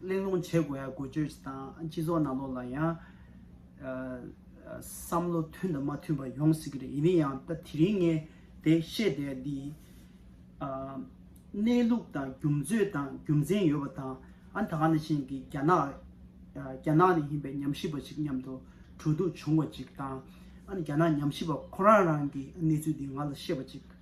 གླེང་སློང་བྱེད་དགོས་ཡ་དགོས་བརྗོད་བྱེད་དང་སྤྱི་ཚོགས་ནང་ལོགས་ལ་ཡང། བསམ་བློ་མཐུན་དང་མ་མཐུན་པ་ཡོང་སྲིད་ཀྱི་རེད་ཡིན་ན་ཡང་ད་དེ་རིང་ངས་དེ་བཤད་བསྡད་འདི། གནས་ལུགས་དང་རྒྱུ་མཚོད་དང་རྒྱུ་མཚན་ཡོད་པ་དང་ཨ་ད་ག་ནས་ཕྱིན་གི་རྒྱ་ནག་རྒྱ་ནག་ནས་ཡིན་པའི་ཉམས་ཞིབ་པ་ཞིག་མཉམ་དུ་གྲོས་བསྡུར་བྱུང་བ་ཅིག་དང། ཨ་ནི་རྒྱ་ནག་ཉམས་ཞིབ་པ་ཁོ་རང་རང་གི་གནས་ཚུལ་འདི་ང་ལ་བཤད་པ་ཅིག།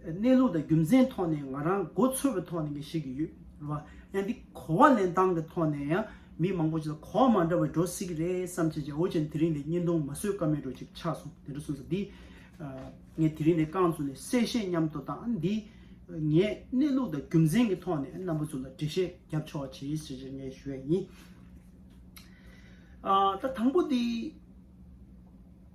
གནས་ལུགས་དང་རྒྱུ་མཚན་ཐོག་ནས་ང་རང་མགོ་ཚོས་པའི་ཐོག་ནས་ངས་བཤད་ཀྱི་ཡོད་རེད་བ། ཡང་འདི་གོ་བ་ལེན་སྟངས་ཀྱི་ཐོག་ནས་ཡང་མི་མང་པོ་ཅིག་ལ་གོ་བ་མ་འདྲ་བའི་འགྲོ་སྲིད་ཀྱི་རེད་བསམ་བྱས་བྱས་འོ་ཅན་དེ་རིང་ལས་བརྙན་ཐུང་མ་བཟོས་ཀ་མེད་འགྲོ་ཅིག་ཆགས་སོང་དེ་འདྲ་གསུངས་ས་འདི། ངས་དེ་རིང་ལས་རྐང་བཙུགས་ནས་གསལ་བཤད་མཉམ་དུ་དང་འདི། ངས་གནས་ལུགས་དང་རྒྱུ་མཚན་གྱི་ཐོག་ནས་རྣམ་པ་ཚོ་ལ་འགྲེལ་བཤད་རྒྱབ་ཆོག་བྱས་ཞེས་བྱས་ངས་ཞུ་བ་ཡིན། ད་དང་པོ་འདི།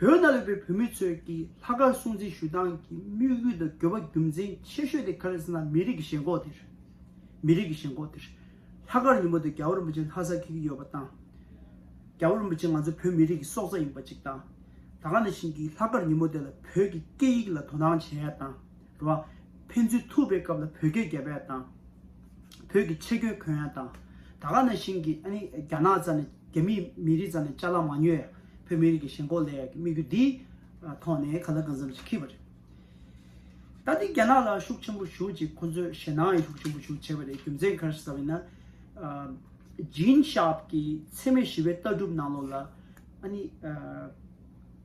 བོད་ནང་ཡོད་པའི་བོད་མི་ཚོས་ཀྱི་ལྷག་དཀར་སྲུང་བརྩི་ཞུ་སྟངས་ཀྱི་དམིགས་ཡུལ་དང་དགོས་པ་རྒྱུ་མཚན་ཆེ་ཤོས་དེ་ག་རེ་ཟེར་ན་མི་རིགས་ཀྱི་ཞེན་ཁོག་དེར། མི་རིགས་ཀྱི་ཞེན་ཁོག་དེར། ལྷག་དཀར་ཉིན་མོ་དེ་རྒྱ་བོ་རིན་པོ་ཆེ་ལྷ་སར་ཁེལ་གྱི་ཡོད་པ་དང། རྒྱ་བོ་རིན་པོ་ཆེ་ང་ཚོ་བོད་མི་རིགས་ཀྱི་སྲོག་རྩ་ཡིན་པ་གཅིག་དང། ད་ག་ནས་བཞིན་གྱི་ལྷག་དཀར་ཉིན་མོ་དེ་ལ་བོད་ཀྱི་སྐད་ཡིག་ལ་དོ་སྣང་བྱས་ཡ་དང། བ། ཕན་ཚུན་ཐུག་པའི་སྐབས་ལ་བོད་སྐད་རྒྱ་བལ་དང། བོད་ཀྱི་ཆེ་གྱོན་གོན་ཡ་དང། ད་ག་ན་ཤིང་གི་ཨ་ནི་རྒྱ་ནག་ཙ་ནས་རྒྱ་མི་མི་རིགས་ཙ་ནས་ཅ་ལ་མ་ཉོས་ཡ་བོད་མི་རིགས་ཀྱི་ཞེན་ཁོག་ལས་ཡ་གི་དམིགས་ཡུལ་འདི་ཐོག་ནས་ག་ལ་གང་འཚམ་ཅིག་ཁེལ་བ་རེད། ད་འདི་རྒྱ་ནག་ལ་ཤུགས་ཆེན་པོ་ཞུགས་ཅིག་ཁོ་ཚོས་ཞེ་སྣང་ཡང་ཤུགས་ཆེན་པོ་ཞུགས་བྱས་པ་རེད་རྒྱུ་མཚན་གར་ཟབ་ཡིན་ན། Gene Sharp གྱི་འཚེ་མེད་ཞི་བའི་ལྟ་གྲུབ་ནང་ལོགས་ལ་ཨ་ནི།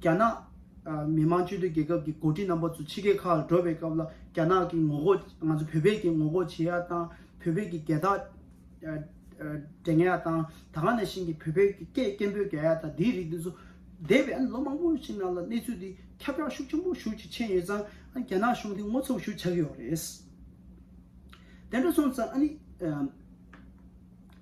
རྒྱ་ནག་མི་དམངས་སྤྱི་མཐུན་རྒྱལ་ཁབ་ཀྱི་འགོ་ཁྲིད་རྣམ་པ་ཚོ་ཕྱི་རྒྱལ་ཁག་ལ་འགྲོ་བའི་སྐབས་ལ་རྒྱ་ནག་གི་ངོ་རྒོལ་ང་ཚོ་བོད་པས་ཀྱི་ངོ་རྒོལ་བྱེད་ཡག་དང་བོད་པས་ཀྱི་བརྒལ་བརྟག་འགྲེང་ཡག་དང་ད་ག་ནས་ཤིན་གྱི་བོད་པས་ཀྱི་སྐད་སྐད་འབོད་རྒྱག་ཡག་དང་དེའི་རིགས་དེ་ཚོ་འདས་པའི་ལོ་མང་པོ་ཞིག་ནང་ལ་གནས་ཚུལ་དེ་ཁྱབ་བསྒྲགས་ཤུགས་ཆེན་པོ་ཞུ་ཅིག་ཆེན་ཡོད་ཙང་རྒྱ་ནག་གཞུང་དེ་ངོ་ཚབ་ཞུ་ཆག་གི་ཡོག་རེད། དེ་འདྲ་སོང་ཙང།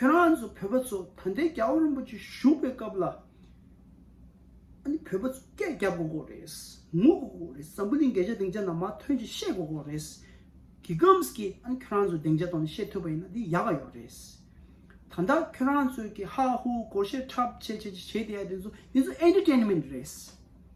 ཁྱོད་རང་ཚོ་བོད་པ་ཚོ་ད་ལྟའི་རྒྱ་བོད་རིན་པོ་ཆེ་བཞུགས་པའི་སྐབས་ལ་ཨ་ནི་བོད་པ་ཚོ་སྐད་རྒྱག་དགོས་དགོས་རེད། ངུ་དགོས་དགོས་རེད་ཟམ་བུ་ལིང་གས་ཆ་སྡིངས་ཆ་ནང་མ་ཐོན་ཅིག་བཤད་དགོས་དགོས་རེད། གི་གམས་ཀྱི་ཨ་ནི་ཁྱོད་རང་ཚོ་སྡིངས་ཆ་ཐོག་ནས་བཤད་ཐུབ་པ་ཡིན་ན་དེ་ཡག་ག་ཡོག་རེད། ད་ལྟ་ཁྱོད་རང་ཚོས་ཀྱི་ཧ་ཧུ་གོ་བཤད་འཁྲབ་བྱེད་བྱེད་བྱེད་བྱེད་བྱེད་དེ་ཡ་དེ་ཚོ་དེ་ཚོ Entertainment རེད།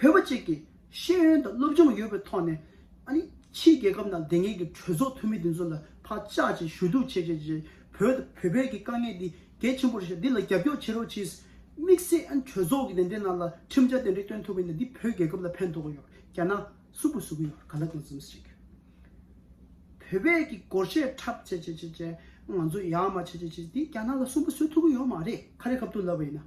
བོད་པ་གཅིག་གིས་ཤེས་ཡོན་དང་སློབ་སྦྱོང་ཡོད་པའི་ཐོག་ནས། ཕྱིའི་རྒྱལ་ཁབ་ནང་བདེན་གཉིས་ཀྱི་གྲོས་ཚོགས་འཐུས་མི་དེ་ཚོ་ལ་བག་ཆགས་ཅན་ཞུ་གཏུག་བྱེད་བྱེད་བྱེད་བོད་དང་བོད་པའི་གི་དཀའ་ངལ་འདི་གལ་ཆེན་པོ་རེད་འདི་ལ་རྒྱབ་སྐྱོར་བྱེད་རོགས་གྱིས། དམིགས་བསལ་གྲོས་ཚོགས་ཀྱི་དེ་འདྲའི་ནང་ལ་ཁྲིམས་འཆར་དེ་འདྲའི་བཏོན་ཐུབ་པའི་ནི་འདི་བོད་རྒྱལ་ཁབ་ལ་ཕན་ཐོགས་གི་ཡོད་རྒྱ་ནག་སུ་གུ་སུ་གུ་ཡོད་ག་ལ་གང་བརྩམས་བྱེད་གི་བོད་པའི་གི་སྒོར་གཞས་འཁྲབ་བྱེད་བྱེད་བྱེད་བྱེད་ང་ཚོ་ཡག་མ་བྱེད་བྱེད་བྱེད་འདི་རྒྱ་ནག་ལ་སུན་པོ་བཟོས་ཐུབ་གི་ཡོད་མ་རེད་ཁ་རེ་ཁབ་ཏུ་ལབ་པ་ཡིན་ན།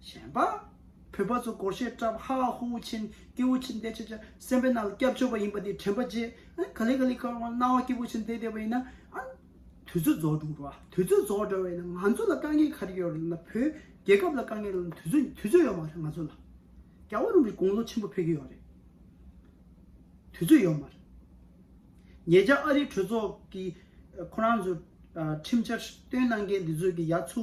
བཞེངས་པ། བོད་པ་ཚོ་སྒོར་གཞས་བཀྲབས་ཧ་ཧ་ཧུ་ཧུ་ཆེན་སྐྱེ་བོ་ཆེན་འདས་ཆེ་ཆེ་སེམས་པའི་ནང་ལ་སྐྱབས་བཅོལ་བ་ཡིན་པ་དེ་དྲན་པ་རྗེས་ག་ལེ་ག་ལེ་ཁར་སྣང་བ་སྐྱེ་བོ་ཆེན་འདས་འདས་པ་ཡིན་ན་དུས་ཚོད་རྫོགས་འགྲོ་འགྲོ་དུས་ཚོད་རྫོགས་འགྲོ་བས་ན་ང་ཚོ་ལ་དཀའ་ངལ་ག་རེ་ཡོད་རེད་ན་བོད་རྒྱལ་ཁབ་ལ་དཀའ་ངལ་ལ་དུས་ཚོད་དུས་ཚོད་ཡོད་མ་རེད་ང་ཚོ་ལ་རྒྱ་བོད་རང་གི་དགུང་ལོ་ཆེན་པོ་ཕེབས་ཀྱི་ཡོད་རེད་དུས་ཚོད་ཡོད་མ་རེད་ངེད་ཅག་ཨ་རིའི་གྲོས་ཚོགས་ཀྱི་ཁོ་རང་ཚོ་ཁྲིམས་འཆར་བཏོན་གནང་མཁན་དེ་ཚོས་ཀྱི་ཡ་ཚུ།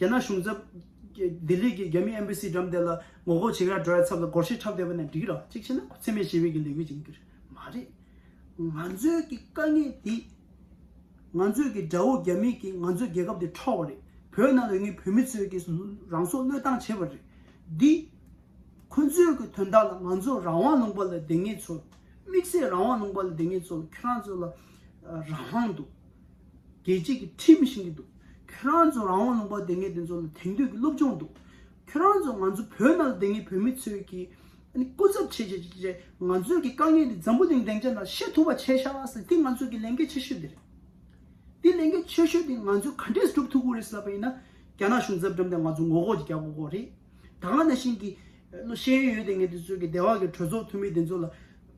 རྒྱ་ནག་གཞུང་ཚབ། ལྡི་ལི་གི་རྒྱ་མི་ཨེམ་པེ་སི་འགྲམ་དེ་ལ་ངོ་ལྐོག་བྱེད་ཡ་འགྲོ་ཡ་ཚབ་ལ་སྒོར་གཞས་འཁྲབ་བསྡད་པ་ནས་འགྲིག་རག་གཅིག་བྱས་ན་འཚེ་མེད་ཞི་བའི་གི་ལས་འགུལ་བྱེད་གི་མ་རེད། ང་ཚོའི་གི་དཀའ་ངལ་འདི། ང་ཚོའི་གི་དགྲ་བོ་རྒྱ་མི་གིས་ང་ཚོའི་རྒྱལ་ཁབ་འདི་འཕྲོག་བ་རེད། བོད་ནང་ལོས་ངན་བོད་མི་ཚོའི་གི་རང་སྲོག་བློས་བཏང་བྱས་པ་རེད། འདི། ཁོ་ཚོའི་གི་དོན་དག་ལ་ང་ཚོ་རང་དབང་ལུང་པ་ལ་བསྡད་ངེས་ཚོ། དམིགས་བསལ་རང་དབང་ལུང་པ་ལ་བསྡད་ངེས་ཚོ་ཁྱོད་རང་ཚོ་ལ། རང་དབང་འདུག། རྒྱལ་གཅེས་ཀྱི་ཁྲིད་མི་ཤེས་ཀྱི་འདུག་ཁྱོད་རང་ཚོ་རང་དབང་ལུང་པ་འདེབས་མཁན་དེ་ཚོ་ལ་དེང་དུས་ཀྱི་སློབ་སྦྱོང་འདུག་ཁྱོད་རང་ཚོ་ང་ཚོ་བོད་ནང་ལ་བསྡད་མཁན་བོད་མི་ཚོས་ཀྱི་སྐུ་ཚབ་བྱས་བྱས་བྱས་བྱས་ང་ཚོས་ཀྱི་དཀའ་ངལ་འདི་འཛམ་བུ་གླིང་བདེ་འཇགས་ནང་ཤེས་ཐུབ་པ་བྱས་ཤག་ཟེར་འདི་ང་ཚོས་ཀྱི་ལས་འགན་ཆེ་ཤོས་འདི་རེད། འདི་ལས་འགན་ཆེ་ཤོས་འདི་ང་ཚོས་ག་འདྲས་སྒྲུབ་ཐུབ་ཀྱི་རེད་ཟེར་བ་ཡིན་ན་རྒྱ་ནག་གཞུང་ཚབ་འགྲམ་དེ་ང་ཚོ་ངོ་ལྐོག་ཅིག་རྒྱག་དགོས་ཀྱི་རེད། ད་ག་ནང་བཞིན་གྱི་ཤེས་ཡོན་ཡོད་བསྡད་མཁན་དེ་ཚོས་ཀྱི་སྡེ་བ་ཀྱི་གྲོས་ཚོགས་འཐུས་མི་དེ་ཚོ་ལ་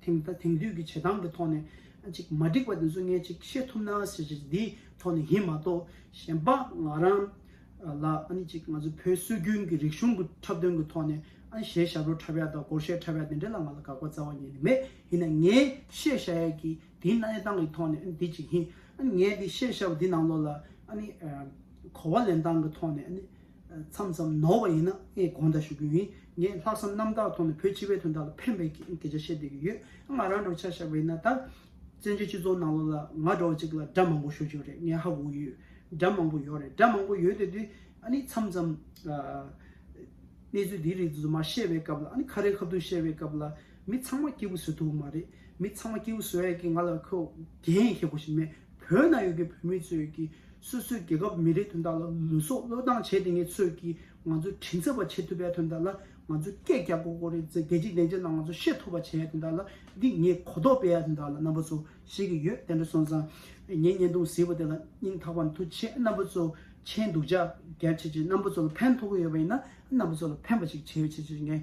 དེང་ད་དེང་དུས་ཀྱི་བྱེད་སྟངས་ཀྱི་ཐོག་ནས་ཅིག་མ་འགྲིག་པ་དེ་ཚོ་ངས་ཅིག་ཤེས་ཐུབ་ན་ཟེར་ཞེས་འདིའི་ཐོག་ནས་ཡིན་མ་གཏོགས་གཞན་པ་ང་རང་ལ་ཅིག་ང་ཚོ་བོད་སྲོལ་རྒྱུན་གྱི་རིག་གཞུང་གི་འཁྲབ་སྟོན་གྱི་ཐོག་ནས་གཞས་ཞབས་རོ་འཁྲབ་ཡ་དང་སྒོར་གཞས་འཁྲབ་ཡ་དེ་འདྲ་ལ་ང་ལ་དགག་པ་རྩ་བ་ཉིད་ནས་མེད་ཡིན་ན་ངས་གཞས་བྱ་ཡ་གི་དེའི་གནས་སྟངས་ཀྱི་ཐོག་ནས་འདི་ཅིག་ཡིན་ངས་འདི་གཞས་བྱ་བ་འདི་ནང་ལོགས་ལ་གོ་བ་ལེན་སྟངས་ཀྱི་ཐོག་ནས་མཚམས་མཚམས་ནོར་བ་ཡིན་ན་ངས་དགོངས་དག་ཞུ་གི་ཡིན། ངས་ལྷག་བསམ་རྣམ་དག་ཐོག་ནས་བོད་སྤྱི་བའི་དོན་དག་ལ་ཕན་པའི་སྐད་ཆ་བཤད་སྡོད་ཀྱི་ཡོད། ང་རང་འགྲོ་འཆར་བཞག་པ་ཡིན་ན་ད། བཙན་བྱོལ་སྤྱི་ཚོགས་ནང་ལོ་ལ་ང་འདྲ་བ་གཅིག་ལ་དགྲ་མང་པོ་ཤོད་ཀྱི་རེད་ངས་ཧ་གོ་གི་ཡོད། དགྲ་མང་པོ་ཡོད་རེད་དགྲ་མང་པོ་ཡོད་དེ་དུས་ཨ་ནི་མཚམས་མཚམས། གནས་ཚུལ་འདིའི་རིགས་དུ་མ་བཤད་པའི་སྐབས་ལ་ཨ་ནི་ཁ་རལ་ཁ་བརྡུང་བཤད་པའི་སྐབས་ལ། མི་ཚང་མ་སྐྱིད་པོ་བཟོ་ཐུབ་ཀྱི་མ་རེད། མི་ཚང་མ་སྐྱིད་པོ་བཟོ་ཡ་གི་ང་ལ་ཁོས་འགན་ཡང་ཁེལ་དགོས་ཞིག་མེད། བོད་ནང་ཡོད་པའི་བོད་མི་ཚོས་ཀྱིས་སོ་སོའི་རྒྱལ་ཁབ་མི་རིགས་དོན་དག་ལ་ལུས་སྲོག་བློས་བཏང་བྱས་དེ་ངས་ཚོས་ཀྱིས་ང་ཚོའི་དྲིན་ཚད་པ་བྱེད་ཐུབ་པའི་དོན་དག་ལ་ང་ཚོས་སྐད་རྒྱག་གོ་གོ་རེད་ཟེར་རྒྱལ་སྤྱིའི་བདེན་བྱ་རྣམས་ང་ཚོས་ཤེས་ཐུབ་པ་བྱས་ཡ་དོན་དག་ལ་འདི་ངས་གོ་རྟོགས་སྤེལ་ཡ་དོན་དག་ལ་རྣམ་པ་ཚོ་ཤེས་ཀྱི་ཡོད་དེ་འདྲ་སོང་ཙང་ངས་བརྙན་ཐུང་གཟིགས་པ་དེ་ལ་སྙིང་ཐག་པ་མཐུ་ཆེ་རྣམ་པ་ཚོ་མཁྱེན་འདུག་ཅག་རྒྱ་ཆེ་ཆེ་རྣམ་པ་ཚོ་ལ་ཕན་ཐོགས་ཀྱི་ཡོད་པ་ཡིན་ན་རྣམ་པ་ཚོ་ལ་ཕན་པ་ཞིག་བྱེད་ཆེ་ཆེ་ངས།